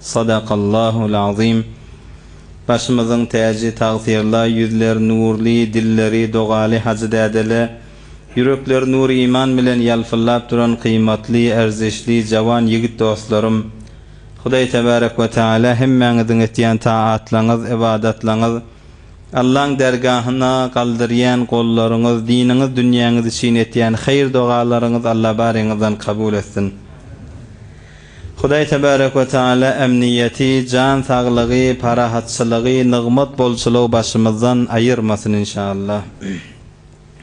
Sadakallahul Azim Başymyzyň täji tagsyirla ýüzler nurly dilleri dogaly hajy dädele ýürekler nur iman bilen ýalpyllap duran gyýmatly erzişli jawan ýigit dostlarym Hudaý tebarek we teala hemmäňiziň etýän taatlaňyz ybadatlaňyz Allaň dergahyna galdyrýan gollaryňyz diniňiz dünýäňiz üçin etýän haýyr dogalaryňyz Alla baryňyzdan kabul etsin. Hudaý Tebarek we Teala emniýeti, jan saglygy, parahatçylygy, nygmat bolçulygy başymyzdan aýyrmasyn inşallah.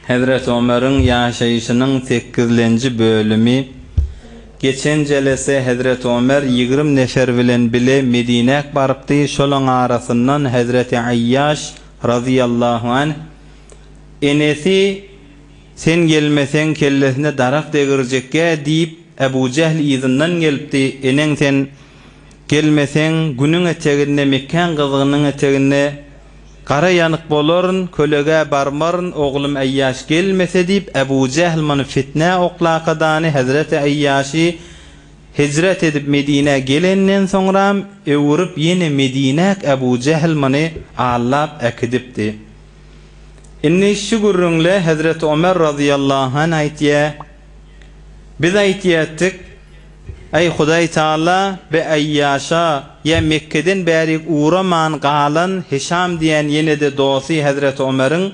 Hezreti Omeriň ýaşaýşynyň sekizlenji bölümi Geçen jelese Hezreti Omer ýigrimi nefer bilen bile Medinäk barypdy, şolaň arasyndan Hezreti Aýýaş, razyýallahu anh, enesi Sen gelmeseň kellesine darak degirjekgä diýip, Ebu Jehl yzyndan gelipdi, Eneň sen gelmeseň, Günüň eteginde, Mekgäň gyzgynyň eteginde gara ýanyk bolaryn, kölegä barmaryn, oglum Eýýaş gelmese diýip, Ebu Jehl muny fitnä oklakadany, hezreti Eýýaşy hijret edip Medinä gelenden soňram öwürip ýene Medinäk Ebu Jehl muny allap äkidipdi. Indi şu gürrüňle hezreti Ömer razyýallahu anh aýtýa, Biz aýtýardyk, Aý, Hudaý Tagala, bi Aýýaşa, ýa Mekgeden bärik ugraman galan Hişam diýen ýene-de dosty hezreti Omeriň,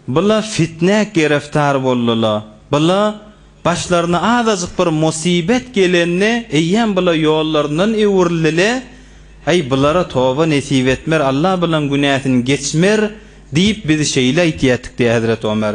bu-la fitnä gereftar boldy-la, bu-la başlaryna azajyk bir musybet gelende eýýäm bu-la ýollaryndan öwrüldi-le, aý, bulara toba nesip etmer, Alla bulaň günäsini geçmer diýip biz şeýle aýtýardyk diýýär hezreti Omer.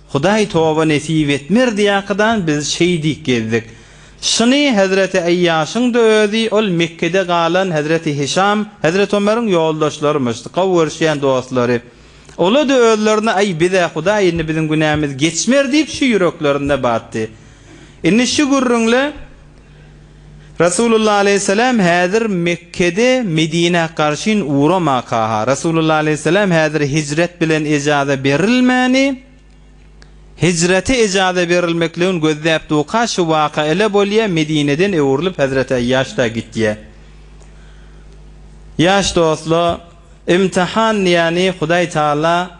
Hudaý toba nesip etmer diýakydan biz şeýdip gezdik. Şyny Hezreti Eýýaşyň-da özi, ol Mekgede galan Hezreti Hişam, Hezreti Ömeriň ýoldaşlarymyş, gowy görüşýän dostlary. Ola-da özlerine Aý biz-ä Hudaý indi biziň günämiz geçmer diýip şu ýüreklerinde batdy. Indi şu gürrüňle. Resulullah aleýhissalam häzir Mekgede Medinä garşyn uramakaha Resulullah aleýhissalam häzir hijret bilen ejaza berilmäni hijrete ejaza berilmekligin gözläp duka şu waka ele bolýa Medineden öwrülip Hazreti Aýýaşda gitýä Ýaş dostla imtihan ýani Hudaý Taala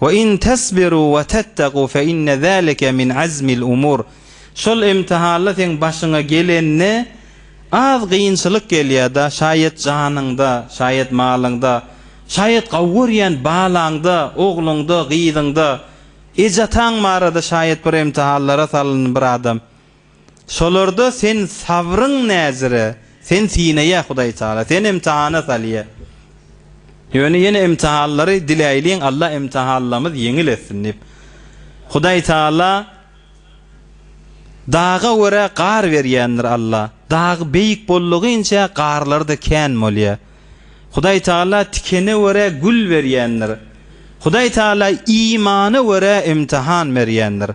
Wa in tasbiru wa tattagu fe inne zalike min azmil umur. Şol imtihalla seň başyňa gelende az gynçylyk gelýärda, şaýat janyňda, şaýat malyňda, şaýat gawy görýän balaňda, ogluňda, gyzyňda, eje-ataň barada şaýat bir imtihallara salyndy bir adam. Şolarda sen sabryň näzire, sen synaýa Hudaý Taala, seni imtihana salýa. Ýöne ýene imtihanlary diläýliň Alla imtihanlamyz ýeňil etsin diýip. Hudaý Taala daga görä gar berýändir Alla. Dag beýik boldugynça garlary-da kän bolýa. Hudaý Taala tikene görä gül berýändir. Hudaý Taala imana görä imtihan berýändir.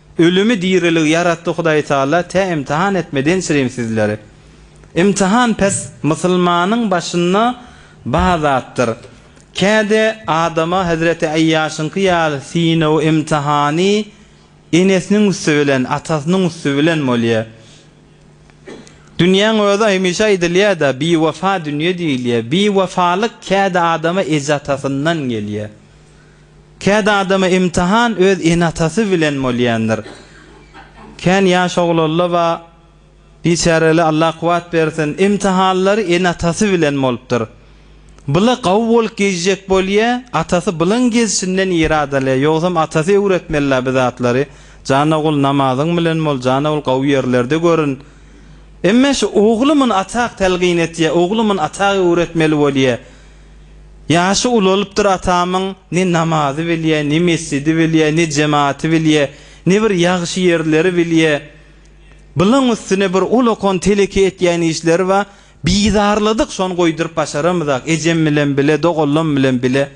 Ölümi dirilig ýaratdy Hudaý Taala tä imtihan etmeden çirim sizleri. Imtihan pes musulmanyň başynda ba zatdyr. Käde adama Hezreti Eýýaşyňky ýaly synawy imtihany enesiniň üsti bilen, atasynyň üsti bilen bolýa. Dünýäň özi hemişe aýdylýada biwefa dünýe diýilýä. Biwefalyk käde adama eje-atasyndan gelýä. Kädi adama imtihan öz ene-atasy bilen bolýandyr. Kän ýaş oglalla-ba, biçäreli Allah kuwwat bersin, imtihanlary ene-atasy bilen bolupdyr. Byla gawy bolup gezjek bolýa, atasy bylyň gezşinden ýere adalýa, ýogsam atasy öwretmeli-la bi zatlary, Jan ogul namazyň bilen bol, jan ogul gawy ýerlerde görün. Emme şu ogly muny atak telgin etýä, ogly muny atak öwretmeli bolýa. Ýaşy ulalypdyr atamyň, ne namazy bilýä, ne mesjidi bilýä, ne jematy bilýä, ne bir ýagşy ýerleri bilýä. Bylaň üstüne bir ulakon teleki etýän işleri bar. Bizarladyk, şony goýduryp başaramyzak, ejem bilen bile, doganlam bilen bile.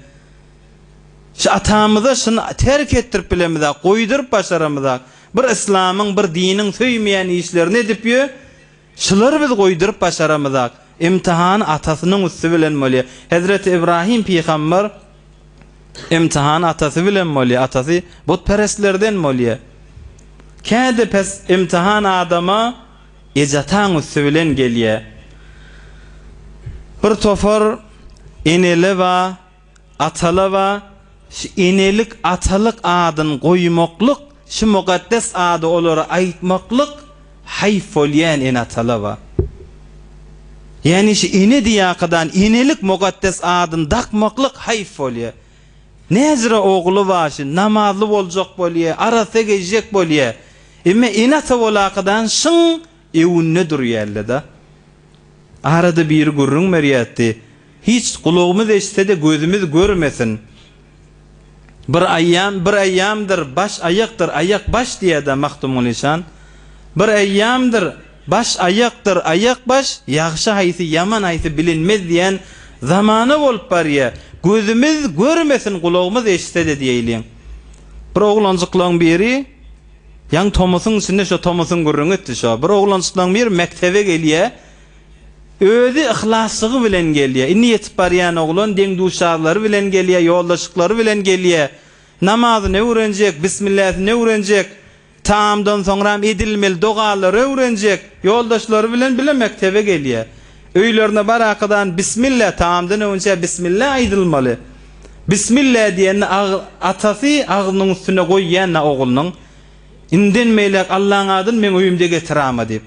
Şu atamyza şuny terk etdirip bilemizak, goýduryp başaramyzak. Bir yslamyň, bir diniň söýmeýän işlerini edip ýör. Şulary biz goýduryp başaramyzak. Imtihan atasynyň üsti bilen bolýar. Hezreti Ybrahym pygamber Imtihan atasy bilen bolýar. Atasy butperestlerden bolýar. Käde pes imtihan adama eje-ataň üsti bilen gelýär. Bir topar eneler bar. Atalawa, şu enelik, atalyk adyny goýmaklyk, şu mukaddes ady olara aýtmaklyk haýp bolýan Eneatalawa. Ýagny şu ene diýýäkadan enelik mukaddes adyny dakmaklyk haýp bolýar. Näzire ogly bar şu, namazly boljak bolýar, arassa gezjek bolýar. Emme ene-ata bolakadan şyň Öwünde durýarlada. Arada biri gürrüň berýärdi. Hiç, gulagymyz eşitse-de gözümiz görmesin. Bir aýam, bir aýamdyr, baş aýakdyr, aýak baş diýýärdi-ä Magtymguly şan. Bir aýamdyr, baş aýakdyr, aýak baş, ýagşy haýsy, ýaman haýsy bilinmez diýen zamana bolup barýar. Gözümiz görmesin, gulagymyz eşitse-de diýeýliň. Bir oglanjyklaň biri. Ýaňy tomusyň içinde şo tomusyň gürrüňi etdi şo. Bir oglanjyklaň biri mekdebe gelýä. Özi yhlaslygy bilen gelýä. Indi ýetip barýan oglan deň-duşarlary bilen gelýä, ýoldaşyklary bilen gelýä. Namazyny öwrenjek, bismilläsini öwrenjek. Tagamdan soňram edilmeli dogalary öwrenjek. Ýoldaşlary bilen bile mekdebe gelýä. Öýlerine barakadan Bismillah, tagamdan öňünçä Bismillah aýdylmaly. Bismillah diýende atasy agzynyň üstüne goýýan-da oglunyň, Inden beýläk Allaň adyny meň öýümde getirama diýip.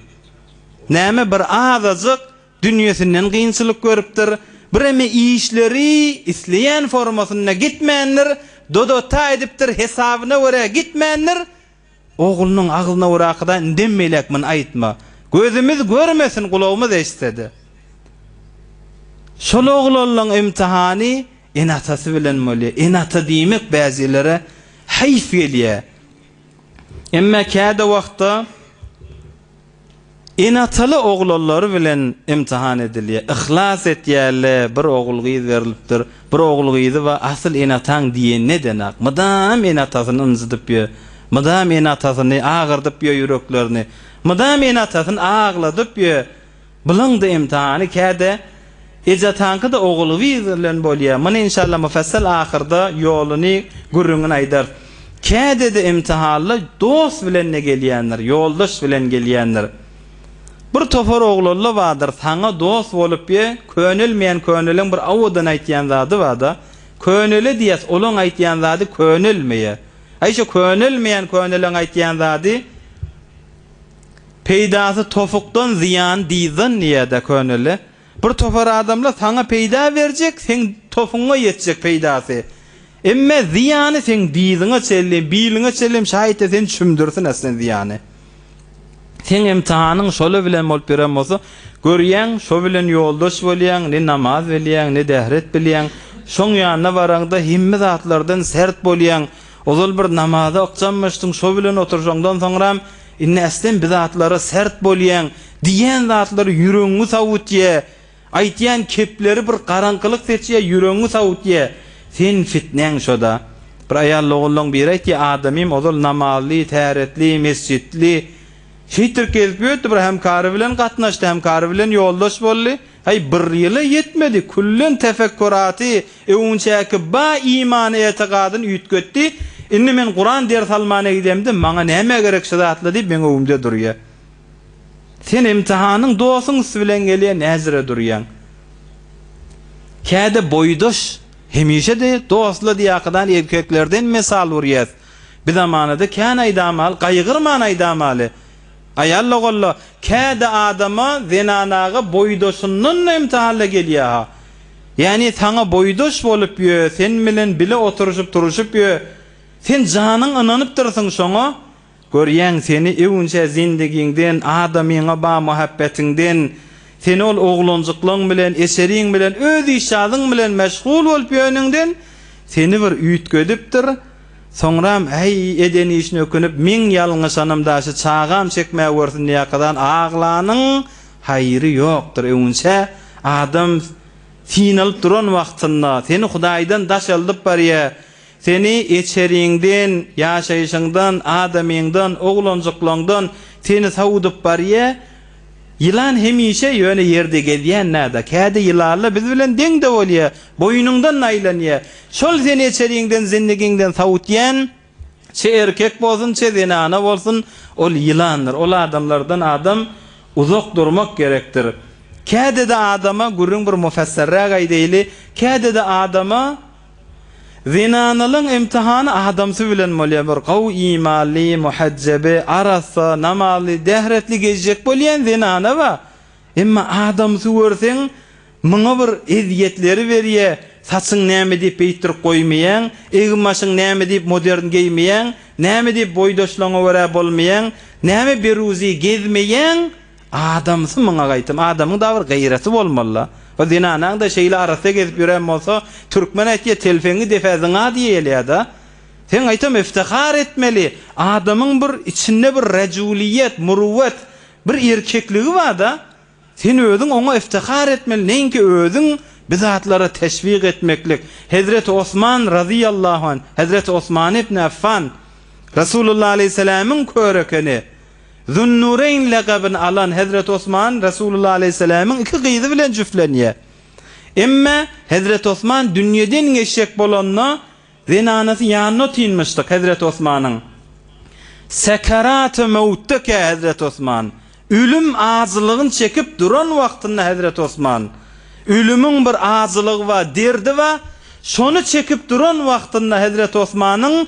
Näme bir azajyk dünýesinden kynçylyk görüpdir, bireme işleri isleýän formasynda gitmändir, doda-ta edipdir, hesabyna görä gitmändir. Oglunyň agzyna orakyda indem beýläk muny aýtma. Gözümiz görmesin, gulagymyz eşitsede. Şol oglanlaň imtihany ene-atasy bilen bolýar. Ene-ata diýmek bäjilere heýs gelýär. Emma käde wagtda. Enataly oglanlary bilen ymtyhan edilýär. Yhlas etýärle, bir ogul-gyz berlipdir. Bir ogul-gyzy bar, asyl enataň diýen nedenäk. Mydam enatasyny ynjydyp ýör. Mydam enatasyny agyrdyp ýör ýüreklerini. Mydam enatasyny agladyp ýör. Bulaň-da ymtyhany käde. Ejatanyky-da ogulgyz bilen bolýa. Muny inşalla mufassal ahyrda ýoluny, gürrüňini aýdarys. Kädede imtihanly dost bilen-de gelýändir, ýoldaş bilen gelýändir. Bir topar oglalla bardyr, saňa dost bolup ýe, könelmeýän köneliň bir awadan aýtýan zady bar-da, könele diýýäs, olaň aýtýan zady könelmeýär. Aý, şo könelmeýän köneliň aýtýan zady. Peýdasy topukdan zyýany dyzdan diýýädä köneli. Bir topar adamlar saňa peýda berjek, seň topuňa ýetjek peýdasy. Emme zyýany seň dyzyňa çenli, biliňe çenli şaýt-a seni çümdürsin äslen zyýany. Seň emtihanyň şola bilen bolup ýören bolsa, görýäň, şo bilen ýoldaş bolýaň, ne namaz bilýäň, ne dähret bilýäň. Şoň ýanyna baraňda hemme zatlardan sert bolýaň. Ozal bir namaza ykjamlaşdyň, şo bilen oturşaňdan soňram, indi ästem bi zatlara sert bolýaň, diýýän zatlary ýüregiňi sowutýar, aýtýan kepleri bir garaňkylyk seçýär, ýüregiňi sowutýar. Seniň fitneň şo-da. Bir aýalogullyň biri aýtýar, Adamym ozal namazly, täretli, mesjitli. Şeýtdirip gezip ýördi, bir hemkary bilen gatnaşdy, hemkary bilen ýoldaş boldy. Häý, bir ýyl-a ýetmedi, küllen tefekkuraty, öňüňçäki ba imany-etikadyn üýtgetdi, indi men Kuran ders almana gidemde, maňa näme gerek şu zatlar diýip meň öňümde durýa. Sen imtihanyň dosuň üsti bilen gelýä, näzire durýaň. Käde boýdaş, hemişe-de dostlar diýäkadan erkeklerden mesal urýas. Bizamanada kän aýdamaly, gaýgyrman aýdamaly. Aýal logalla, Käde adama, zenanaga boýdaşyndan-da imtihanda gelýär-ha. Ýagny saňa boýdaş bolup ýö, sen bilen bile oturyşyp-turuşyp ýö. Sen janyň ynanypdyrsyň şoňa. Görýäň, seni öwünçä zendigiňden, adamyňa ba muhabbetiňden, seni ol oglanjyklaň bilen, eseriň bilen, öz işjazyn bilen meşgul bolup ýöniňden seni bir üýtgedipdir. Soňram äý eden işine ökünip meň ýalňyşanym daşy çagam çekmä görsün diýäkadan aglanyň haýry ýokdur öwünçä adam synalyp duran wagtynda seni hudaýdan daş aldyp barýa seni eçeriňden ýaşaýşyňdan adamyňdan oglanjyklaňdan seni sowudyp barýa Ýylan hemişe ýöne ýerde gezýän-dä-da, kädi ýylalla biz bilen deň-de bolýa, boýnuňdan naýlanýa. Şol seni eçeriňden, zindigiňden sawutýan, çe erkek bolsun, çe zenana bolsun, ol ýylandyr. Ol adamlardan adam uzak durmak gerekdir. Kädi-de adama, gürrüň bir mufesserräk aýdaýly, kädi-de adama, Zenanalyň imtihany adamsy bilen bolýar, bir gowy imanly, muhejjebi, arassa, namazly, dähretli gezjek bolýan zenana bar, emma adamsy görseň, muňa bir ezýetleri berýär, saçyň näme diýip beýtdirip goýmaýaň, egin-başyň näme diýip modern geýmeýäň, näme diýip boýdaşlaryňa görä bolmaýaň, näme beruzy gezmeýäň, Adamsy muňa gaýtam adamyň da bir gaýraty bolmalyda o zenanaňda şeýle arassa gezip ýören bolsa türkmen aýtýa telpeňi depä zyňa diýelýada seň gaýtam iftihar etmeli adamyň bir içinde bir rajuliýet muruwwet bir erkekligi barda sen özüň oňa iftihar etmeli neýinki özüň bi zatlara teşwik etmeklik hezreti osman razyýallahu anh hezreti osmany ibni affan rasulullah aleýhiselämiň körekeni Zunnureýn lakabyny alan Hezreti Osman Resulullah Aleyhisselamyň iki gyzy bilen jüflenýär. Emma Hezreti Osman dünýeden geçjek bolanda zenanasy ýanyna otynmyşdyk Hezreti Osmanyň. Sekeraty mewtdekä Hezreti Osman, ölüm ajylygyny çekip duran wagtynda Hezreti Osman, ölümiň bir ajylygy bar, derdi bar, şony çekip duran wagtynda Hezreti Osmanyň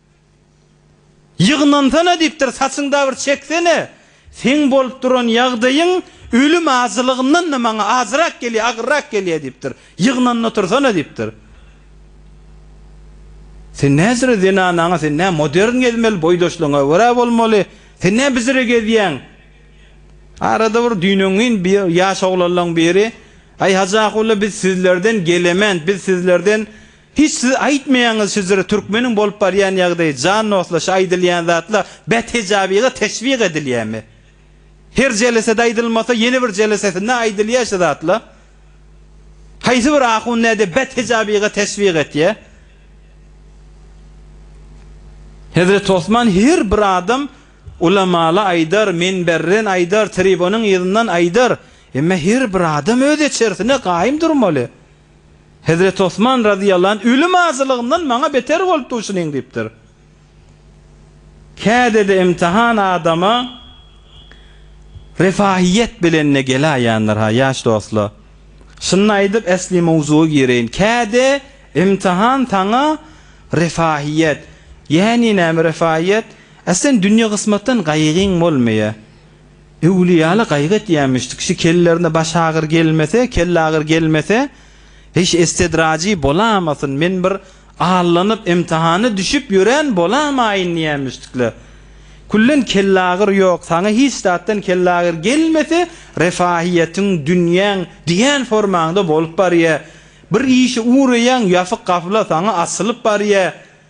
Ýygnansana diýipdir, saçyňda bir çeksene. Seň bolup duran ýagdaýyň ölüm ajylygyndan-da maňa ajyrak gelýär, agyrrak gelýär diýipdir. Ýygnanyp otursana diýipdir. Sen näzire zenanaňa, sen nä modern gezmeli, boýdaşlygyňa görä bolmaly. Sen nä bizire gezýäň? Arada bir düýn-öňňin bir ýaş oglanlaň biri, Aý, Hajy Akula, biz sizlerden gelemen, biz sizlerden Hiç siz aýtmaýaňyz şujere türkmeniň bolup barýan ýagdaýy jan dostlar şu aýdylýan zatlar bet hejabyga teşwik edilýämi? Her jelesede aýdylmasa ýene bir jelesesinde aýdylýa şu zatla. Haýsy bir ahun näde bet hejabyga teşwik etýä? Hezreti Osman her bir adam ulamala aýdar, minberden aýdar, tribonyň yzyndan aýdar. Emme her bir adam öz eçersine gaýym durmaly. Hezreti Osman razyýallahu anh, Ölüm ajylygymdan maňa beter bolup dur şunyň diýipdir. Käde-de imtihan adama refahyýet bilen-de geläýendir-ha, ýaş dostlar. Şuny aýdyp, esli mowzuga gireýin. Käde imtihan saňa refahyýet, ýäni näme refahyýet? Ä sen dünýe gysmatdan gaýgyň bolmaýar. Öwlüýäli gaýgy etýämiş, kişi kellerine baş agyr gelmese, kelle agyr gelmese, hiş estedraji bolamasyn, men bir allanyp, imtihana düşüp ýören bolamaýyn diýämişdikle. Küllen kelle agyr ýok, saňa hiç zatdan kelle agyr gelmese, refahiýetiň, dünýäň diýen formaňda bolup barýa. Bir işe ugraýaň, ýapyk gapyla saňa açylyp barýa.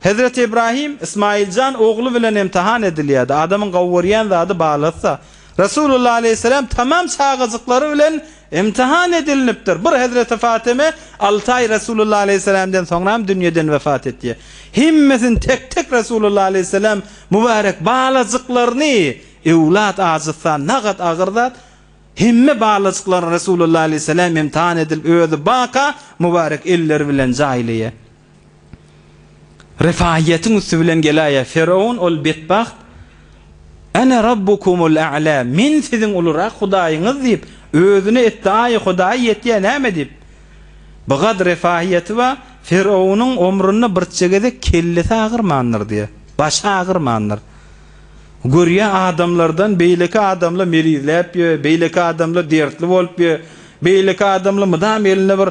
Hezreti Ibrahim, Ismailjan ogly bilen imtihan edilýärdi. Adamyň gowy görýän zady balassa. Resulullah aleýhisselam tamam çagajyklary bilen imtihan edilinipdir. Bir hezreti Fatyme alty aý Resulullah aleýhisselamdan soňram dünýeden wepat etýär. Hemmesini tek-tek Resulullah aleýhisselam mübarek balajyklaryny Öwlat ajyssan nagat agyr zat. Hemme balajyklaryny Resulullah aleýhisselam imtihan edilip özi baka mübarek elleri bilen jaýlaýar. Refaýýetiň üsti bilen gelaýýar. Firawun ol betbagt, Ene Rabbukumul A'la, men siziň ulurak Hudaýyňyz diýip, özüne etdaýy Hudaýy ýetýär näme diýip. Bu gad refaýýeti bar, Firawunyň omrunda birçe gezek kellesi agyrmandyr diýýär. Başy agyrmandyr. Görýär adamlardan beýleki adamla merizläp ýör, beýleki adamla dertli bolup ýör, beýleki adamla mydam elinde bir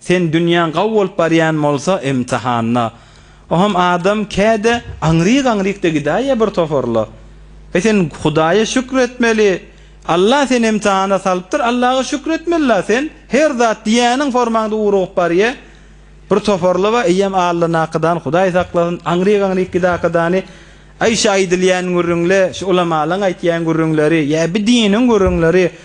Sen dünýäň gawy bolup barýan bolsa imtihanda ohm adam käde aňryk aňrykda gidäýýä bir toparla e sen hudaýa şükür etmeli Allah seni imtihana salypdyr Allaha şükür etmeli la sen her zat diýýäniň formaňda urugyp barýa bir toparla ba eýýäm allanakadan hudaý saklasyn aňryk aňryk gidakadany aý şu aýdylýan gürrüňle şu ulamalaň aýtýan gürrüňleri ýa bi diniň gürrüňleri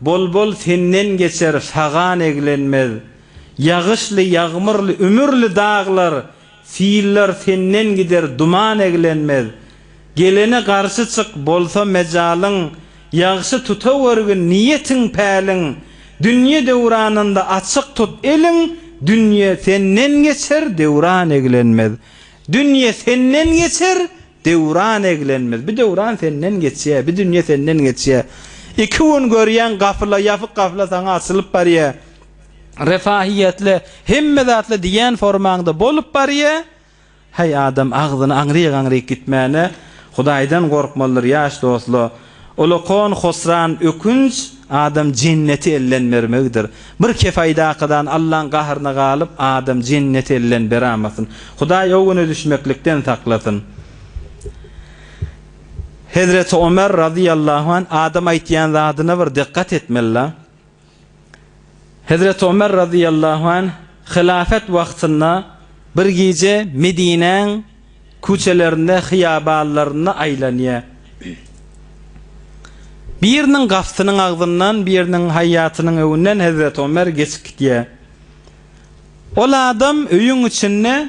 Bol-bol senden geçer, sagan eglenmez. Ýagyşly, ýagmyrly, ümürli daglar, sillar senden gider, duman eglenmez. Gelene garşy çyk, bolsa mejalyň, ýagşy tutawergin niýetiň, päliň. Dünýe döwranynda açyk tut eliň, dünýe senden geçer, döwran eglenmez. Dünýe senden geçer, Döwran eglenmez. Bi döwran senden geçýär, bi dünýe senden geçýär. Iki gün görýäň gapyla, ýapyk gapyla saňa açylyp barýar. Refahiýetli, hemme zatly diýýän formaňda bolup barýar. Häý, adam agzyny aňryk-aňryk gitmäne Hudaýdan gorkmalydyr, ýaş dostlar. Ulukon Hosran Ökünç adam jenneti elden bermegidir. Bir kefaýdakydan Allaň gahryna galyp adam jenneti elden beramasyn. Hudaý o güne düşmeklikden saklasyn. Hezreti Omer razyýallahu an adam aýtýan zadyna bir dykgat etmeli la. Hezreti Ömer razyýallahu anh hylafat wagtynda bir gije Medinäň küçelerinde, hyýabanlarynda aýlanýar. Biriniň gapysynyň agzyndan, biriniň haýýatynyň öňünden Hezreti Ömer geçip gidýär. Ol adam öýüň içinde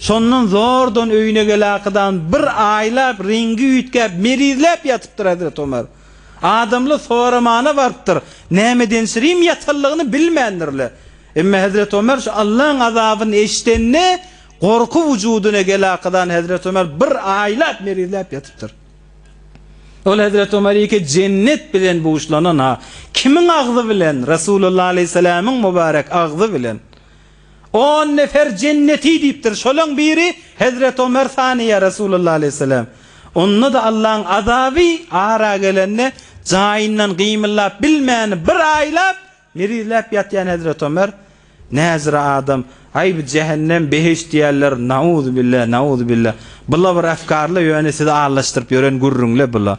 Şondan zordan öýüne geläkydan bir aýlap reňgi üýtgäp, melizläp ýatypdyr Hezreti Ömer. Adamlar soramana barypdyr, nämedensirim ýatanlygyny bilmändirler. Emma Hezreti Ömer şu Allaň azabyny eşidende, gorky wujudyna geläkydan Hezreti Ömer bir aýlap melizläp ýatypdyr. Ol Hezreti Ömer iki jennet bilen buşlanan-a, kimiň agzy bilen, Resulullah alaýhyssalamyň mubarek agzy bilen. On nefer jenneti diýipdir. Şolaň biri Hezreti Omer Saniýa Resulullah aleýhissalam. Onda-da Allaň azaby ara gelende jaýyndan gymyllap bilmän bir aýlap mirizläp ýatýan Hezreti Omer näjra adam. Aý bu jähennem, behişt diýýärler. Nauzubilla, nauzubilla. Bula bir efkarla ýöne sizi allaşdyryp ýören gürrüňle bula.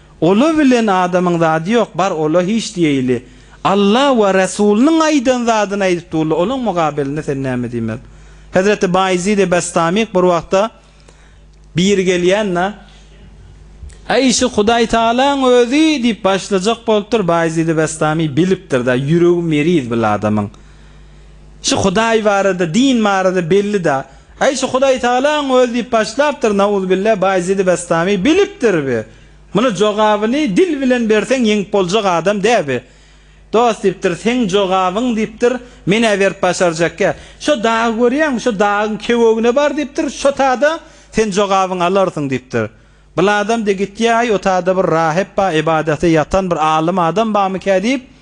Ola bilen adamyň zady ýok bar ola hiç diýeýli Alla we Resulynyň aýdan zadyny aýdyp durly olaň mugabelinde sen näme diýmeli Hezreti Baýzidi Bestamik bir wagtda biri gelýän da Äý şu Hudaý Tagalaň özi diýip başlajak bolupdyr Baýzidi Bestami bilipdir da ýüregi meriz bil adamyň şu Hudaý barada din barada belli da Äý şu Hudaýtagalaň özi diýip başlapdyr nauzubilla Baýezidi Bestami bilipdir bi muny jogabyny dil bilen berseň ýeňip boljak adam dä bi dost diýipdir seň jogabyň diýipdir menä berip başarjakkä şo dagy görýäňmi şo dagyň kewegine bar diýipdir şo tada sen jogabyňy alarsyň diýipdir bladam de gitýäý o tada bir rahep ba ybadata ýatan bir alym adam bamykä diýip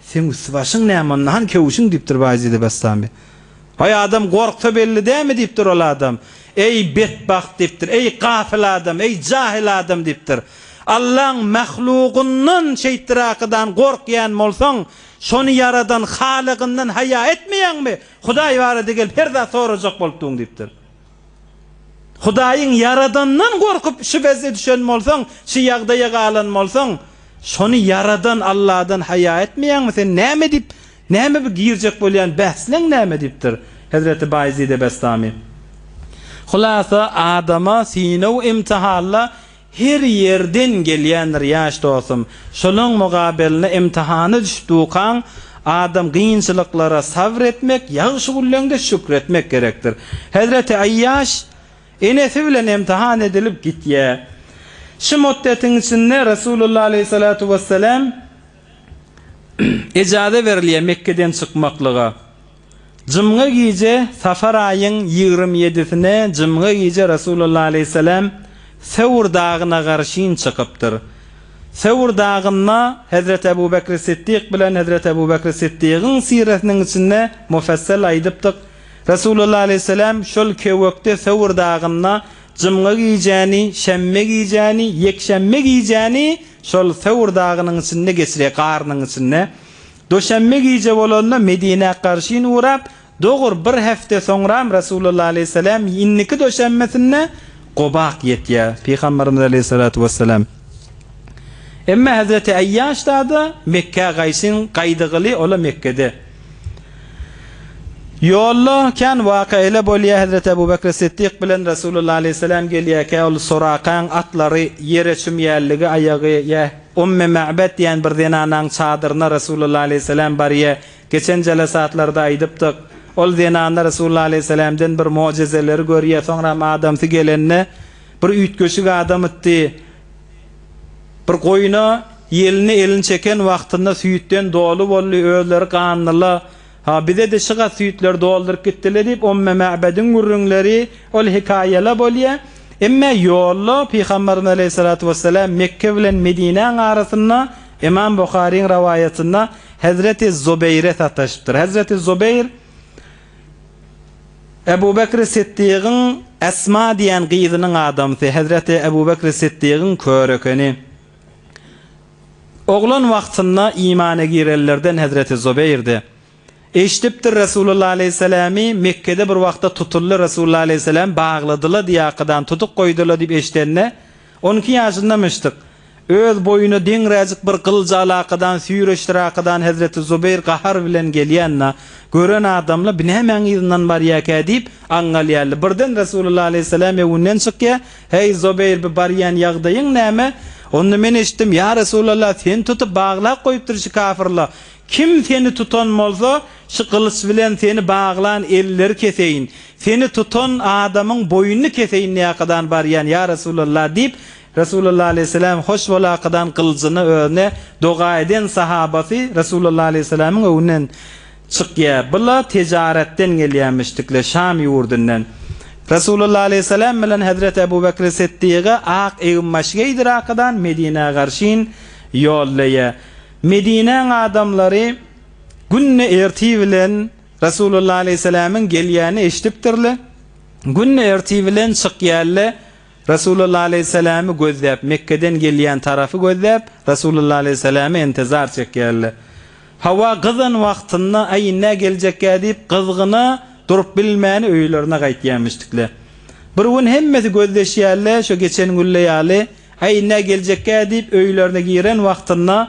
Seň üsti-başyň näme onda, hany köwüşiň, diýipdir Baýjide Bestami. Baý adam gorksa belli dämi, diýipdir ol adam. Eý, betbagt, diýipdir, eý, gafyl adam, eý, jahyl adam, diýipdir. Allaň mahlugyndan, şeýtdirakydan gorkýan bolsaň, şony ýaradan Halygyndan haýa etmeýäňmi? Hudaý barada gelip her zat sorajak bolupdygyn, diýipdir. Hudaýyň ýaradandan gorkup şübhesine düşen bolsaň, şu ýagdaýa galan bolsaň, şony ýaradan Alladan haýa etmeýäňmi? Sen näme diýip, näme bu girjek bolýan bäsleň näme? diýipdir Hezreti Baýezide Bestami. Hulasa adama synaw-imtihanda Her ýerden gelýändir ýaş dostum. Şolaň mugabelne imtihana düşüp dukaň adam kynçylyklara sabr etmek ýagşy gulleňde şükr etmek gerekdir. Hezreti Aýýaş enesi bilen imtihan edilip gitýä. Şu muddetiň içinde Resulullah aleýhissalatu wessalam ejaze berilýä Mekgeden çykmaklyga. Jumga gije, Safar aýyň ýigrimi ýedisine jumga gije Resulalla aleýhissalam Sewr dagyna garşyn çykypdyr. Sewr dagynda Hezreti Ebu Bekri Siddik bilen Hezreti Ebu Bekri Siddigiň siresiniň içinde mufassal aýdypdyk, Resulalla aleýhissalam şol kewekde Sewr dagynda jumga gijäni, şenbe gijäni, ýekşenbe gijäni şol Sewr dagynyň içinde geçirýär, garynyň içinde. Duşenbe gije bolanda Medinä garşyn ugrap, dogur bir hepde soňram Resulullah aleýhissalam indiki duşenbesinde Gobak ýetýär. Pygamberimiz aleýhissalatu wessalam. Emma Hazreti Aýýaş dada Mekgä gaýşyn gaýdygyly ola Mekgede. Ýolda kän waka ele bolýar Hazreti Abu Bakr Siddik bilen Resulullah aleýhissalam gelýärkä ol Surakaň atlary ýere çümýärligi aýagy ýa Umme Ma'bad diýen bir zenanaň çadyryna Resulullah aleýhissalam barýar. Geçen jelasatlarda aýdypdyk. Ol zenana Resulullah aleýhissalamdan bir mojezeleri görýär, soňram adamsy gelende bir üýtgeşik adamytdy. Bir goýuna ýelini elini çeken wagtynda süýtden doly boldy, özleri ganlyla Ha, bize-de şyga süýtler dolduryp gitdiler diýip, Umme Mäbediň gürrüňleri ol hekaýa-la bolýar. Emma ýolda Pygamberimiz aleýhissalatu wessalam Mekge bilen Medinäň arasynda Ymam Buharyň rowaýatynda Hezreti Zubeýre sataşypdyr. Hezreti Zubeýr Ebu Bekri Siddigyň Esma diýen gyzynyň adamsy, Hezreti Ebu Bekri Siddigyň kör ekeni. Oglan wagtynda imana girenlerden hezreti Zubeýrdi. Eşidipdir Resulullah aleýhissalamy Mekgede bir wagtda tutuldy Resulullah aleýhissalamy bagladyla diýe arkadan tutyk goýdyla diýip eşidende on iki ýaşyndamyşdyk. Öz boýuna deňräjik bir gylyjy alakadan süýreşdir arkadan hezreti Zubeýr gahar bilen gelýänna gören adamla binämäň yzyndan barýakä diýip aňňal ýaly birden Resulullah aleýhissalamy öwünden çykýa Heý, Zubeýr, bu barýan ýagdaýyň näme? Onda men eşitdim, ýa Resulallah, seni tutup baglap goýupdyr şu kafyrlar. Kim seni tutan bolsa, şu gylyç bilen seni baglan elleri keseýin. Seni tutan adamyň boýnuny keseýin näkadan barýan, ýa Resulallah, diýip, Resulallah alaýhyssalam hoş bolakadan gylyjyny özüne doga eden sahabasy Resulallah alaýhyssalamyň öňünden Çykýa, bu-la tejaretden gelýämişdikle Şam ýurdundan. Resulullah aleýhissalam bilen hezreti Ebu Bekri Siddygy ak egin-baş geýdir arkadan Medinä garşyn ýollaýa. Medinäň adamlary günde ertir bilen Resulullah aleýhissalamyň gelýänini eşidipdirle, günde ertir bilen çykýarle. Resulullah aleýhissalamy gözläp, Mekgeden gelýän tarapy gözläp, Resulullah aleýhissalamy intizar çekýärler. Hawa, gyzan wagtynda, Aý, indä geljekgä diýip, gyzgyna durup bilmän, öýlerine gaýtýarmyşdyklar. Bir gün hemmesi gözleşýärler, şo geçen günle ýaly, Aý, indä geljekgä diýip, öýlerine giren wagtynda,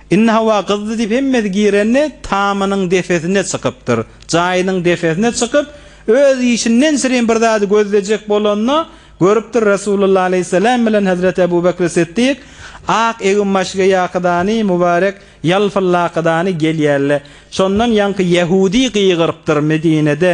Indi hawa gyzdy diýip hemmesi girende tamynyň depesine çykypdyr. Jaýynyň depesine çykyp, öz işinden şirin bir zady gözlejek bolanda, görüpdir Resulullah aleýhissalam bilen Hezreti Ebu Bekri Siddik ak eginbaşgeýakydany, mubarek ýalpyllakydany gelýärle. Şondan ýaňky ýehudy gygyrypdyr Medinede.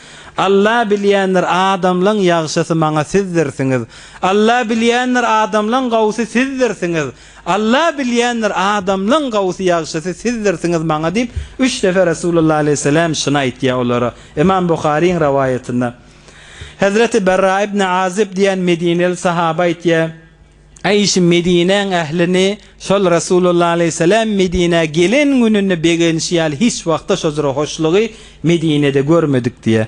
Alla bilýändir adamlaň ýagşysy maňa sizdirsiňiz. Alla bilýändir adamlaň gowusy sizdirsiňiz. Alla bilýändir adamlaň gowusy ýagşysy sizdirsiňiz maňa diýip üç defe Resulullah aleýhisseläm şuny aýtýar olara. Ymam Buharyň rowaýatynda. Hezreti Berra ibn Azyb diýen medineli sahaba aýtýar. Aýşe Medinäň ählini şol Resulullah aleýhissalam Medinä gelen gününde begenişi ýaly hiç wagtda şojra hoşlugy Medinede görmedik diýýär.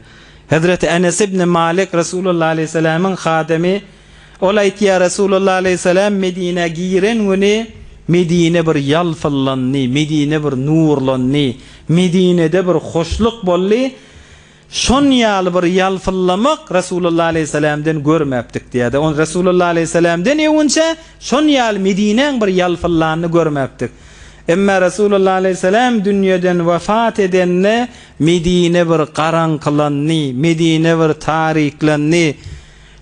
Hezreti Enes ibni Malik Resulullah aleýhissalamyň hadymy ol aýtýar Resulullah aleýhissalam Medinä giren güni Medine bir ýalpyllandy, Medine bir nurlandy, Medinede bir hoşluk boldy, Şon ýaly bir ýalpyllamak Resulullah aleýhissalamden görmäpdik diýýärdi. Ony Resulullah aleýhissalamden ýewünçä şon ýaly Medinäň bir ýalpyllanyny görmäpdik. Emma Resulullah aleýhissalam dünýeden wepat edende Medine bir garaňkylandy, Medine bir tariklendi.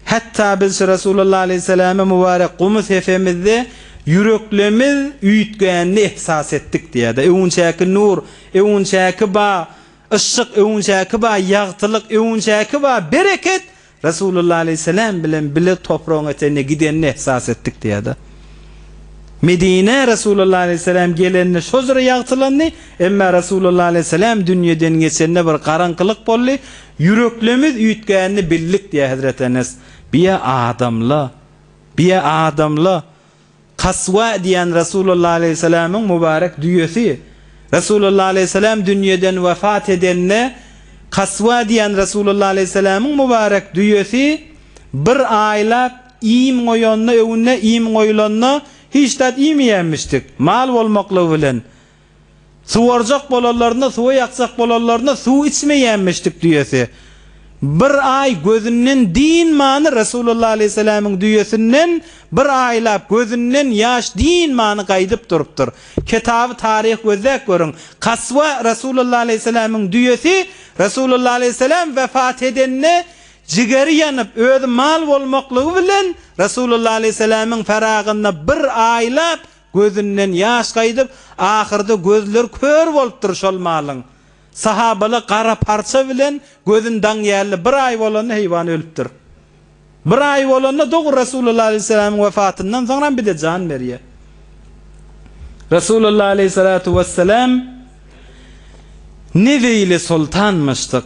Hatda biz şu Resulullah aleýhissalamy mübarek gumy sepemizde ýüreklerimiz üýtgänini ehsas etdik diýýärdi. Öwünçäki nur, öwünçäki bag Yşşyk öwünçäki ba, ýagtylyk öwünçäki ba, bereket Resulullah aleýhissalam bilen bile topragyň etegine gidenini ehsas etdik diýýärdi. Medinä Resulullah aleýhissalam gelende şojra ýagtylandy, emma Resulullah aleýhissalam dünýeden geçende bir garaňkylyk boldy, ýüreklerimiz üýtgänini bildik diýýär Hezreti Enes. Biýe adamla, biýe adamla Kaswa diýen Resulullah aleýhissalamyň mübarek düýesi. Resulullah aleýhissalam dünýeden wepat edende, Kaswa diýen Resulullah aleýhissalamyň mübarek düýesi bir aýlap iým goýanyna öwünde iým goýulanda hiç zat iýmeýänmişdik, mal bolmaklygy bilen. Suwarjak bolanlarynda, suwy ýakjak bolanlarynda suw içmeýänmişdik düýesi. Bir aý gözünden dynmany Resulullah aleýhissalamyň düýesinden bir aýlap gözünden ýaş dynmany gaýdyp durupdyr. Kitaby taryh gözläp görüň. Kaswa Resulullah aleýhissalamyň düýesi Resulullah aleýhissalam wepat edende jigeri ýanyp özi mal bolmaklygy bilen Resulullah aleýhissalamyň feragyna bir aýlap Gözünden ýaş gaýdyp, ahyrda gözler kör bolupdyr şol malyň. Sahabala gara parça bilen gözün daň ýaly bir aý bolanda heýwan ölüpdir. Bir aý bolanda dogry Resulullah aleýhissalamyň wefatyndan soňram bide jan berýär. Resulullah aleýhissalatu wessalam Nebe ile soltanmyşdyk.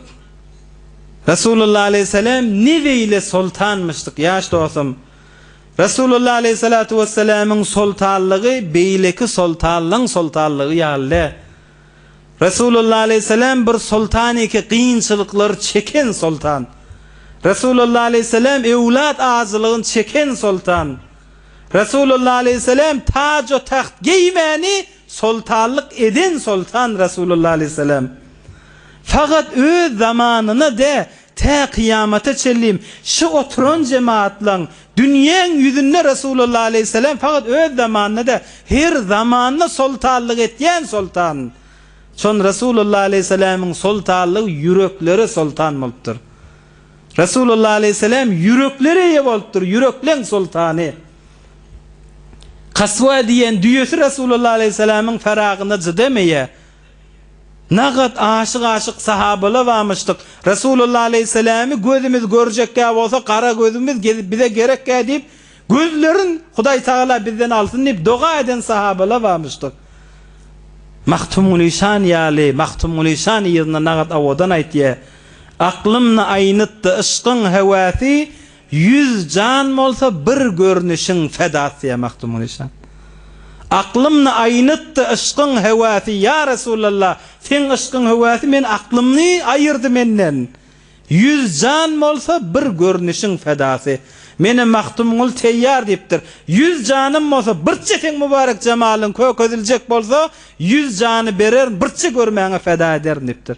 Resulullah aleýhissalam Nebe ile soltanmyşdyk ýaş dostum. Resulullah aleýhissalatu wessalamyň soltanlygy beýleki soltanlaň soltanlygy ýaly däl. Resulullah aleýhissalam bir soltan eki kynçylyklary çeken soltan. Resulullah aleýhissalam öwlat ajylygyny çeken soltan. Resulullah aleýhissalam tajo tagt geýmäni soltanlyk eden soltan Resulullah aleýhissalam. Fakat öz zamanyna dä Tä kyýamata çenli şu oturan jemaatlaň dünýäň ýüzünde Resulalla aleýhissalam fakat öz zamanynda däl, her zamanda soltanlyk etýän soltan. Şon Resulalla aleýhissalamyň soltanlygy ýüreklere soltan bolupdyr. Resulalla aleýhissalam ýüreklere eýe bolupdyr, ýürekleň soltany. Kaswa diýen düýesi Resulalla aleýhissalamyň Faragyna cydam eýe. Nagat aşyk-aşyk sahabala bamyşdyk. Resulalla aleýhissalamy gözümiz görjekgä bolsa gara gözümiz gezip bize gerekgä diýip, gözlerin Hudaý tagala bizden alsyn diýip doga eden sahabala bamyşdyk. Magtymguly şan ýaly, Magtymguly şan yzyna nagat owadan aýtýa. Aklymny aýnytdy yşkyň hewäsi, Ýüz jan bolsa bir görnüşiň fedasy-ýa Magtymguly şan. Aklymny aýnytdy yşkyň höwäsi ýa Resulalla, seň yşkyň höwäsi men aklymny aýyrdy menden. Ýüz jan bolsa bir görnüşiň fedasy. Menä Magtymguly teýýar diýipdir. Ýüz janym bolsa birçe seň mübarek jemalyň köke ediljek bolsa ýüz jany bererin birçe görmäňe feda ederin diýipdir.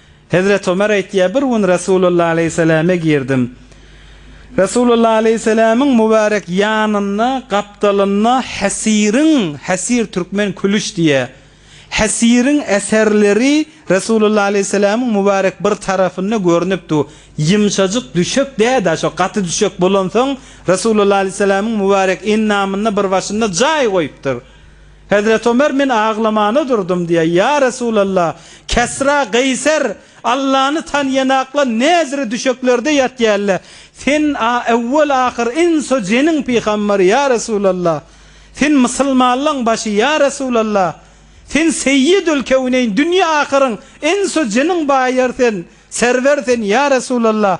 Hezreti Ömer aýtýar, Bir gün Resulullah aleýhissalame girdim. Resulullah aleýhissalamyň mübärek ýanynda gapdalynda Hesiriň, Hesir türkmen külüş diýýär, Hesiriň eserleri Resulullah aleýhissalamyň mübärek bir tarapynda görnüp dur. Ýumşajyk düşek däl-ä, şo gaty düşek bolansoň, Resulullah aleýhissalamyň mübärek endamynda bir başynda jaý goýupdyr. Hezreti Ömer men aglamana durdum diýýär, Ýa Resulallah, Kesra, Gaýser Allany tanýanaklar näzire düşeklerde ýatýarlar, sen, a ewwel-ahyr, ins-u jiniň pygambery, ýa Resulallah, sen mysylmanlaň başy, ýa Resulallah, sen seýýidül kewneýn, dünýe-ahyryň, ins-u jiniň baýary sen, serwer sen, ýa Resulallah,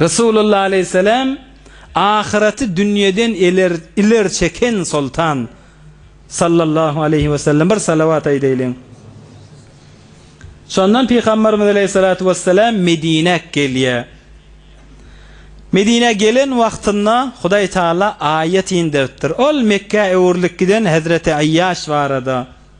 Resulullah aleýhissalam ahyraty dünýeden iler iler çeken soltan sallallahu aleýhi wesellem bir salawat aýdaýlyň. Şondan pygamberimiz aleýhissalatu wesselam Medinä gelýär. Medinä gelen wagtynda Hudaý Taala aýat inderipdir. Ol Mekgä öwrülip giden Hezreti Aýýaş barada.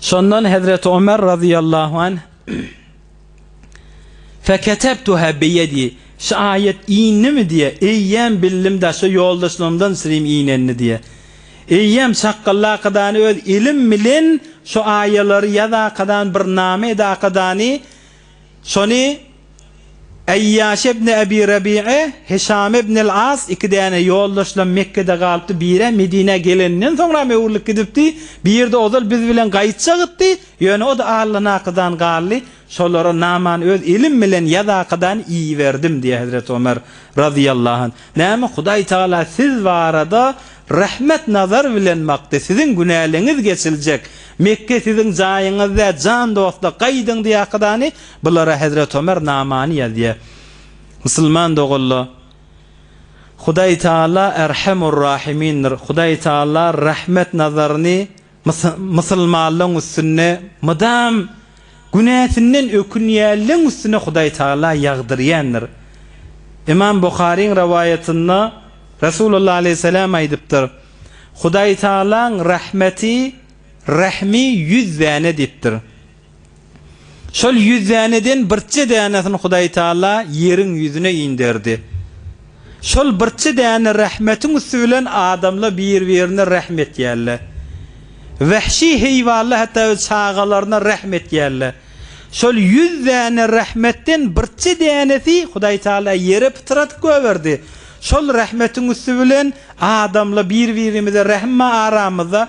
Şondan Hezreti Ömer razyýallahu anh, Feketebtuha biyedi, Şu aýat indimi diýýär. Eýýäm bildim daşy ýoldaşlarymdan siriň inenini diýýär. Eýýäm çakgallakadany öz elim bilen şu aýalary ýazakadany bir name edakadany Şony Aýýaş ibn Abi Rabiýa, Hişam ibn al-As iki däne ýoldaşlam Mekgede galypdy, biri-ä Medinä geleninden soňram öwrülip gidipdi, biri-de ozal biz bilen gaýtjakdy, ýöne o-da allanakadan galdy, şolara namany öz elim bilen ýazakadan iýiberdim diýýär Hezreti Ömer razyýallahu anh. Näme Hudaý Tagala siz barada rehmet nazary bilen bakdy, siziň günäleňiz geçiljek, Mekge siziň jaýyňyz dä, jan dostlar gaýdyň diýýä hakydany, bulara Hezret Omer namany ýazýa. Musulman doganla Hudaý Tagala Erhemur Rahimindir, Hudaý Tagala rehmet nazaryny Mysylmalaň üstünde mydam günäsinden ökünýänleň üstüne Hudaý Tagala ýagdyrýandyr. Ymam Buharyň rowaýatynda Resulullah aleýhissalam aýdypdyr, Hudaý Tagalaň rahmeti, rehmi ýüz däne diýipdir. Şol ýüz däneden birje dänesini Hudaýtagala ýeriň ýüzüne inderdi. Şol birje däne rahmetiň üsti bilen adamlar bir-birine rahm etýärler. Wähşi heýwanlar hatda öz çagalaryna rahm etýärler. Şol ýüz däne rahmetden birje dänesi Hudaýtagala ýere pytradyp goýberdi. Şol rahmetiň üsti bilen adamlar bir-birimize rahmma aramyzda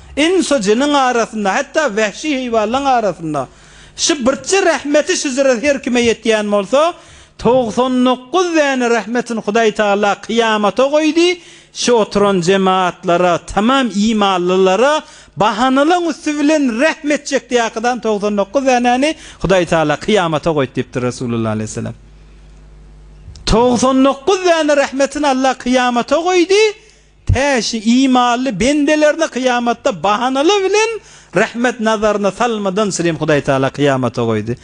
Ins-u jiniň arasynda, hatda wähşi heýwanlaň arasynda şu birçe rahmeti şüzre her kime ýetýän bolsa, togsan dokuz däne rahmetin Hudaý Tagala kyýamata goýdy, şu oturan jemaatlara, tamam imanlylara bahanalaň üsti bilen rahm etjekdi ýakydan togsan dokuz dänäni Hudaý Tagala kyýamata goýdy diýipdir Resulullah aleyhisselam. Togsan dokuz däne rahmetin Allah kyýamata goýdy. Täşi imanly bendelerini kyýamatda bahanalar bilen rahmet nazaryna salmadan sylym Hudaý Taala kyýamata goýdy.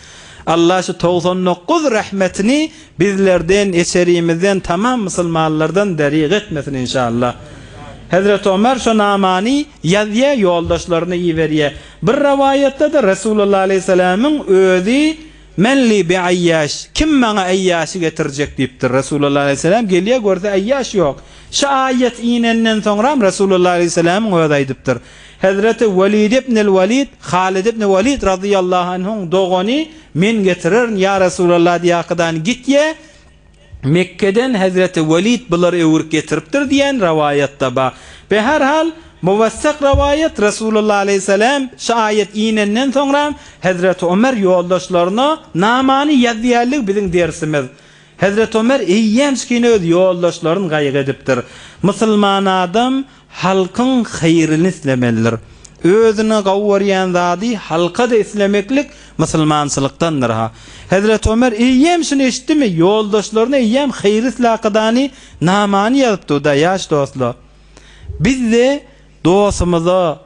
Allah şu togsan dokuz rahmetini bizlerden, eçerimizden, tamam musulmanlardan derig etmesin inşallah. Hezreti Omar şu namany ýazýa ýoldaşlaryna iberýä. Bir rawaýatda-da Resulullah aleýhiselämiň özi Men li bi aýýaş, kim maňa aýýaşy getirjek diýipdir. Resulullah aleýhissalam gelýär, görse aýýaş ýok. Şu aýat inenden soňram Resulullah aleýhisalamyň özi aýdypdyr. Hezreti Welid ibnil Welid, Halid ibn Welid razyýallahu anhuň dogany, Men getirerin, ýa Resulallah diýýär, Kydany git ye, Mekgeden hezreti Welid bulary öwürip getiripdir diýen rowaýat-da bar. Be her hal, muwessak rowaýat Resulullah aleýhissalam şu aýat inenden soňra hezreti Omer ýoldaşlaryna namany ýazýarlygy biziň dersimiz. Hezreti Omer eýýämçkine öz ýoldaşlaryn gaýgy edipdir. Musulman adam Halkyň haýryny islemelidir. Özüne gawy görýän zady halka-da islemeklik musulmançylykdandyr-ha. Hezreti Ömer eýýäm şuny eşitdimi, ýoldaşlaryna eýýäm haýyr islekadany namany ýazypdyda, Ýaş dostlar! Biz-de dostumyza,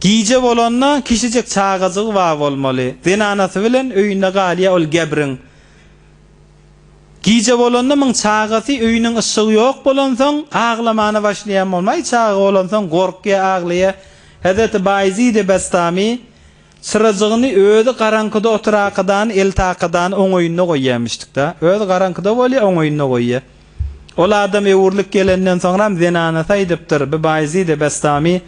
Gije bolanda kişijik çagajygy bar bolmaly. Zenanasy bilen öýünde galýar ol gebriň. Gije bolanda muň çagasy öýüniň yşygy ýok bolansoň aglamana başlaýan bolmaly. Çaga bolansoň gorkýar, aglaýar. Hezreti Baýezidi Bestami Çyrajygyny özi garaňkyda oturakydany eltakydany oňaýynda goýýarmyşdyk-da. Özi garaňkyda bolýar, oňaýynda goýýar. Ol adam öwrülip gelenden soňram zenanasy aýdypdyr, Bi Baýzid-i Bestamy,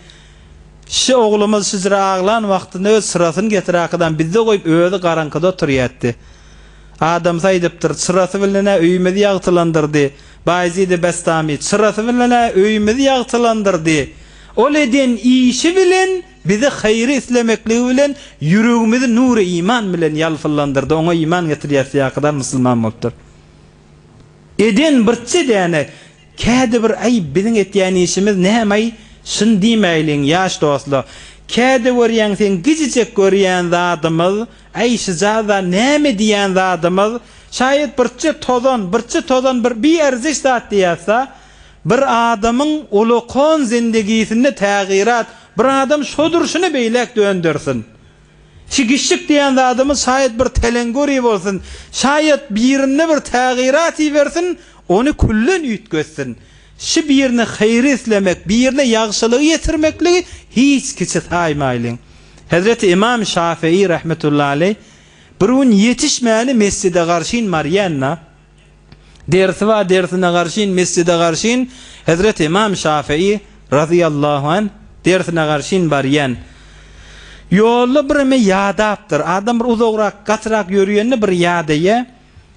Şu oglumyz şüjre aglan wagtynda öz çyrasyny getirakydany bizde goýup, özi garaňkyda oturýardy. Adamsy aýdypdyr, Çyrasy bilen-ä öýümizi ýagtylandyrdy. Baýzid-i Bestamy, Çyrasy bilen-ä öýümizi ýagtylandyrdy. Ol eden işi bilen Bize haýry islemekligi bilen ýüregimizi nury iman bilen ýalpylandyrdy, oňa iman getirýäs ýakydan musulman bolupdyr. Eden birçe däne kädi bir aý biziň etýän işimiz nämaý şuny diýmäýliň ýaş dostlar kädi görýäň seň gijijek görýän zadymyz aý şujada näme diýän zadymyz şaýat birçe tozan birçe tozan bir biarziş zat diýýäsda Bir adamyň ulakon zendegisinde tägyrat bir adam şo durşuna beýläk döndersin. Çigişlik diýen zadymyz şaýat bir telengori bolsun, şaýat birinde bir tägyrat ibersin, ony külden üýtgetsin. Şi birine haýry islemek, birine ýagşylygy ýetirmekligi hiç kiçi saýmaýlyň. Hezreti Ymam Şafyýy rahmetullahi aleýh bir gün ýetişmäni mesjide garşyn barýan-da. Dersi bar dersine garşyn mesjide garşyn Hezreti Ymam Şafyýy Razyýallahu anh dersine garşyn barýan. Ýolda bireme ýadapdyr. Adam bir uzagrak gatyrak ýörýände bir ýadaýa.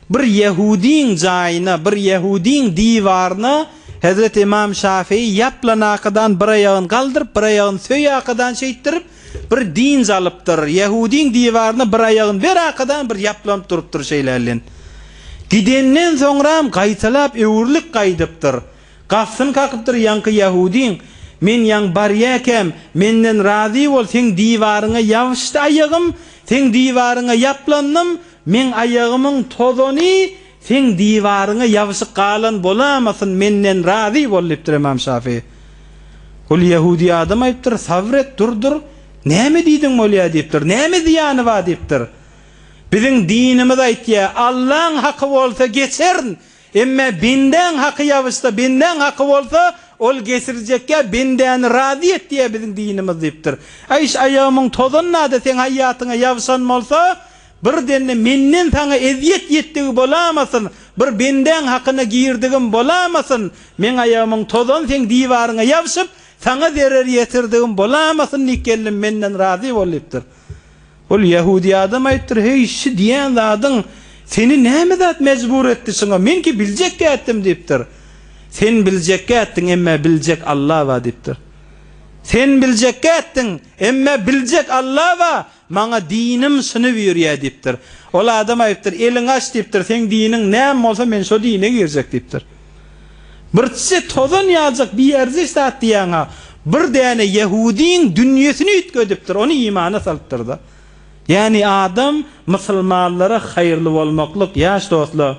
Bir ýehudyň jaýyna bir ýehudyň diwaryna Hezreti Ymam Şafyýy ýaplanakadan bir aýagyn galdyryp bir aýagyn söýakadan şeýtdirip Bir dynç alypdyr. Ýahudyň diwaryna bir aýagyny bir arkadan bir ýaplanyp durupdyr şeýlälin. Gidenden soňram gaýtalap öwrülip gaýdypdyr. Gapysyny kakypdyr ýaňky ýahudyň, Men ýaň barýäkäm, menden razy bol, seň diwaryňa ýabyşdy aýagym, seň diwaryňa ýaplandym, meň aýagymyň tozany, Seň diwaryňa ýabyşyk galan bolamasyn, menden razy bol, diýipdir Ymam Şafyý. Ol ýahudi adam aýypdyr, Sabr et, dur-dur, näme diýdiň bolýa, diýipdir. Näme zyýany bar, diýipdir. Biziň dinimiz aýtýa, Allaň haky bolsa geçern, emme bendäň haky ýabyşsa, bendäň haky bolsa, ol geçirjekýa, bendäni razy et diýýä biziň dinimiz, diýipdir. Aýş aýagymyň tozanynada seň haýýatyňa ýabyşan bolsa, Birden-de menden saňa ezýet ýetdigi bolamasyn, bir bendäň hakyna girdigim bolamasyn, meň aýagymyň tozan seň diwaryňa ýabşyp, saňa zerer ýetirdigim bolamasyn diýip gelnim menden razy bol diýipdir. Ol ýahudi adam aýdypdyr, Heý, şu diýýän zadyň seni näme zat mejbur etdi şuňa, men-ki biljekkä etdim diýipdir. Sen biljekkä etdiň, emmä biljek Alla bar diýipdir. Sen biljekkä etdiň, emmä biljek Alla bar, Maňa dinim synyp ýörýär diýipdir. Ol adam aýdypdyr, Eliňi aç diýipdir, seň diniň näme bolsa men şo dine girjek diýipdir. Birçe tozan ýaljak bierziş zat diýýäň-a, bir däne ýehudyň dünýesini üýtgedipdir, ony imana salypdyr-da. Ýagny adam musulmanlara haýyrly bolmaklyk, ýaş dostlar.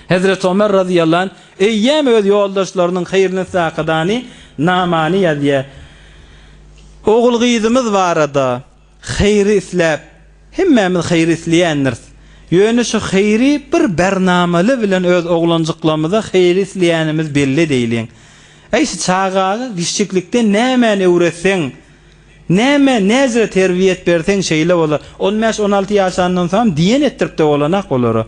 Hezreti Omer razyýallahu anh eýýäm öz ýoldaşlarynyň haýrynysakadany, namany ýazýar. Ogul-gyzymyz barada haýry isläp, hemmämiz haýry isleýändiris. Ýöne şu haýry bir bernamaly bilen öz oglanjyklarymyza haýry isleýänimiz belli edäýliň. Äý, şu çagaga gişjiklikden nämäni öwretseň, Näme, näzire terbiýet berseň şeýle bolar. On bäş, on alty ýaşandan soňam diýen etdiripdi bolanak olara.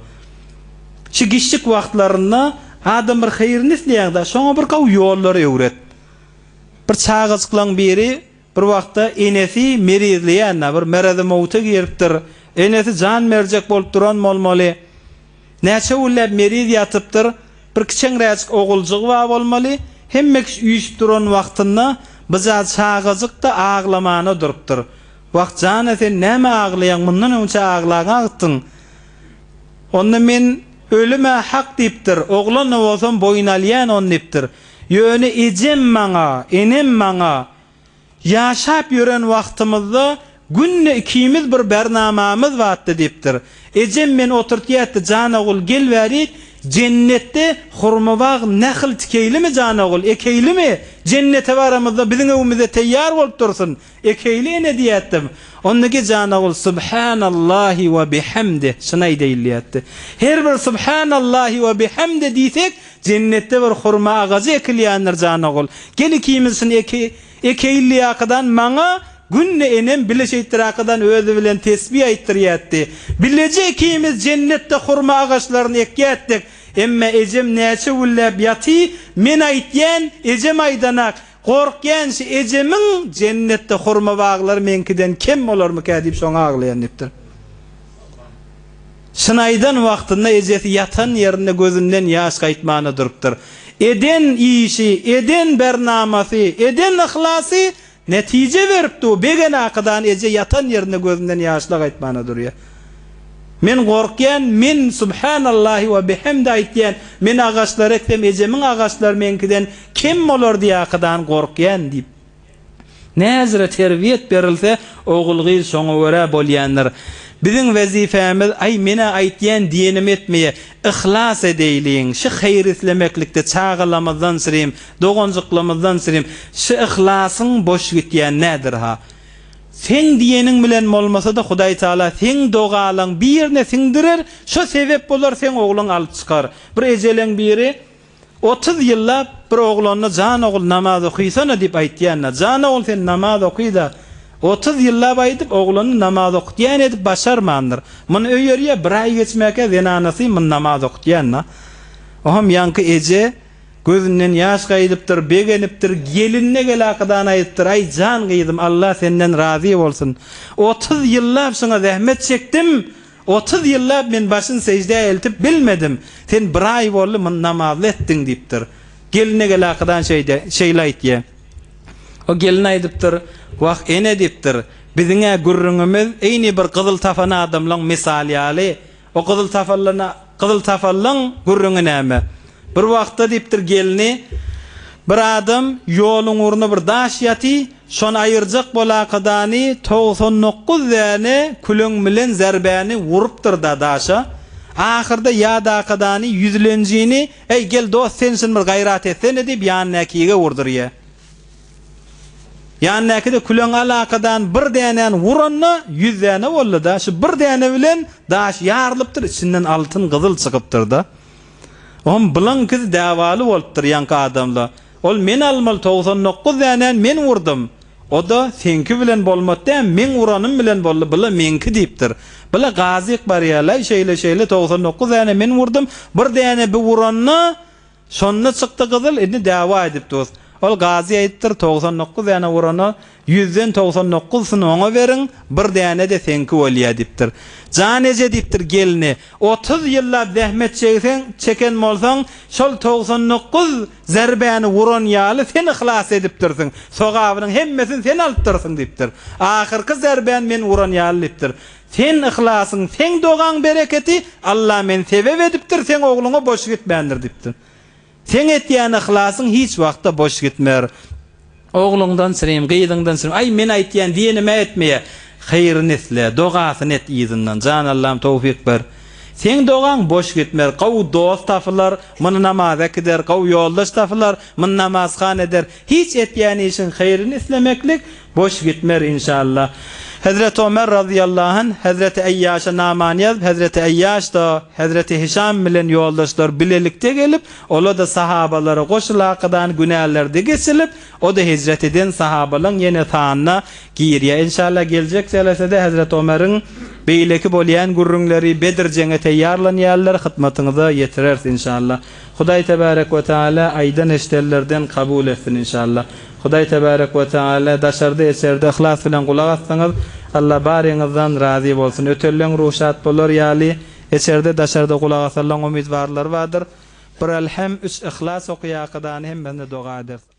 Şu giçjik wagtlarynda adam bir haýryny isleýäňdä şoňa bir gowy ýollary öwret. Bir çagajyklaň biri bir wagtda enesi merizleýänä bir mereze mowta giripdir. Enesi jan berjek bolup duran bolmaly. Näçe günläp meriz ýatypdyr, bir kiçeňräjik oguljygy bar bolmaly, hemme kişi üýşüp duran wagtynda bja çagajyk-da aglamana durupdyr. Wah, jana sen näme aglaýaň, mundan öňçä aglaň agtdyň. Onda men ölüm-ä hak diýipdir, oglan-da bolsam boýun alýan ony diýipdir. Ýöne ejem maňa, enem maňa Ýaşap ýören wagtymyzda günde ikimiz bir bernamamyz batdy, diýipdir. Ejem meni oturt ýetdi, Jan ogul, gel bärik, jennetde hurmabag nähil tikeýlimi, Jan ogul, ekeýlimi? Jennete baramyzda biziň öwümize teýýar bolup dursun, ekeýli ene, diýýätdim. Onda ge Jan ogul, Subhanallahi we bihamdih, şyny aýdaýyl, diýýätdi. Her bir Subhanallahi we bihamdih diýsek, Jennetde bir hurma agajy ekilýändir jan ogul. Gel ikimiz şuny eki, ekeýli ýakadan maňa günde enem bile şeýtdirakydan özi bilen tesbi aýtdyrýatdy. Bileje ikimiz jennetde hurma agaçlaryny ekýätdik. Emma ejem näçe gülläp ýaty, men aýtýän, ejem aýdanak. Gorkýan şi ejemiň jennetde hurma baglary meňkiden kem bolarmyka diýip şoňa aglaýan diýipdir. Çynaýdan wagtynda ejesi ýatan ýerinde gözünden ýaş gaýtmana durupdyr. Eden işi, eden bernamasy, eden yhlasy netije beripdi-u, begenakydan eje ýatan ýerinde gözünden ýaşla gaýtmana durýa. Men gorkýan, men Subhanallahi we bihamdi aýtýan, men agaçlary eksem ejemiň agaçlary meňkiden kem bolar diýakydan gorkýan diýip. Näzire terbiýet berilse, ogul-gyz şoňa görä bolýandyr. Biziň wezipämiz, Aý, men-ä aýtýan diýenimi etmeýä. Yhlas edeýliň. Şy haýry islemeklikde çagalamyzdan sirim, doganjyklymyzdan sirim. Şy yhlasyň boş gitýäni nädir-ha? Seň diýeniň bilen bolmasa-da, Hudaý Tagala seň dogalaň birine siňdirer, şo sebäp bolar, seň ogluň alyp çykar. Bir ejeleň biri Otuz ýyllap bir oglanyna jan ogul namaz okyýsana diýip aýtýan-da, jan ogul sen namaz okyýda, otuz ýyllap aýdyp oglanyny namaz okutýan edip başarmandyr. Muny öýerýä bir aý geçmäkä zenanasy muny namaz okutýan-da. Oham ýaňky eje gözünden ýaş gaýdypdyr, begenipdir, gelinine gelakydan aýdypdyr, aý jan gyzym Allah senden razy bolsun. Otuz ýyllap şyňa zähmet çekdim. Otuz ýyllap men başyn seždä eltip bilmedim, sen bir aý boldy muny namazly etdiň diýipdir. Gelin egelakydan şeýde, şeýle aýtýa. O gelin aýdypdyr, Wah, ene diýipdir, biziň-ä gürrüňimiz eýni bir gyzyl tapan adamlaň mysaly ýaly, o gyzyl tapanlana Gyzyl sapalyň gürrüňi näme? Bir wagtda diýipdir gelni, Bir adam ýoluň ugruna bir daş ýaty, şony aýyrjak bolakadany togsan dokuz däne küleň bilen zerbäni urupdyr-da daşa. Ahyrda ýadakadany ýüzlenjini, Eý, gel, dost, sen şin bir gaýrat etsene diýip ýanynäkige urdurýa. Ýandaky-de küleň alakadan bir dänäni uranda, ýüz däne boldy-da. Şu bir däne bilen daş ýarylypdyr, içinden altyn, gyzyl çykypdyr-da. Oňam bulaňky däwaly bolupdyr ýaňky adamla. Ol men almaly togsan dokuz dänäni men urdum. O-da seňki bilen bolmat dä, meň uranym bilen boldy, bu-la meňki diýipdir. Bu-la gazyk barýar-laý, şeýle-şeýle, togsan dokuz däne men urdum, bir däne bi uranda, Şonda çykdy gyzyl, indi däwa edip dur. Ol gazy aýypdyr, togsan dokuz däne urana, ýüzden togsan dokuzsyny oňa beriň, bir däne-de seňki bolýa diýipdir. Jan eje diýipdir gelne, otuz ýyllap zähmet çegseň, çeken bolsaň, şol togsan dokuz zerbäni uran ýaly sen yhlas edipdirsiň, sogabynyň hemmesini sen alypdyrsyň diýipdir. Ahyrky zerbäni men uran ýaly diýipdir. Seň yhlasyň, seň dogaň bereketi Alla men sebep edipdir, seň ogluňa boş gitmändir diýipdir. Seň etýän yhlasyň hiç wagtda boş gitmer. Ogluňdan syrym, gyzyňdan syrym, aý men aýtýan diýenim-ä etmeýär. Haýryny isle, dogasyny et yzyndan, jan Allam towfyk ber. Seň dogaň boş gitmer, gowy dost tapylar, muny namaza äkider, gowy ýoldaş tapylar, muny namazhana eder. Hiç etýän işiň haýryny islemeklik boş gitmer inşallah. Hezreti Omer razyýallahu anh hezreti Eýýaşa namany ýazyp hezreti Eýýaş-da hezreti Hişam bilen ýoldaşlar bilelikde gelip ola-da sahabalara goşulakydany günälerde geçilip o-da hijret eden sahabalaň ýene sanyna girýä inşallah geljek selesede hezreti Omeriň beýleki bolýan gürrüňleri Bedir jeňe teýýarlanýarlar hytmatyňyza ýetireris inşallah. Hudaý Tebärek we Teala aýdan eşidenlerden kabul etsin inşallah. Hudaý Tebärek we Teala daşarda eçerde yhlas bilen gulak asdyňyz. Alla baryňyzdan razy bolsun. Ötelleň ruhy şat bolar ýaly eçerde daşarda gulak asallaň umytbarlary bardyr. Bir Alhem, üç Yhlas okaýakydany hemmesine doga edersiň.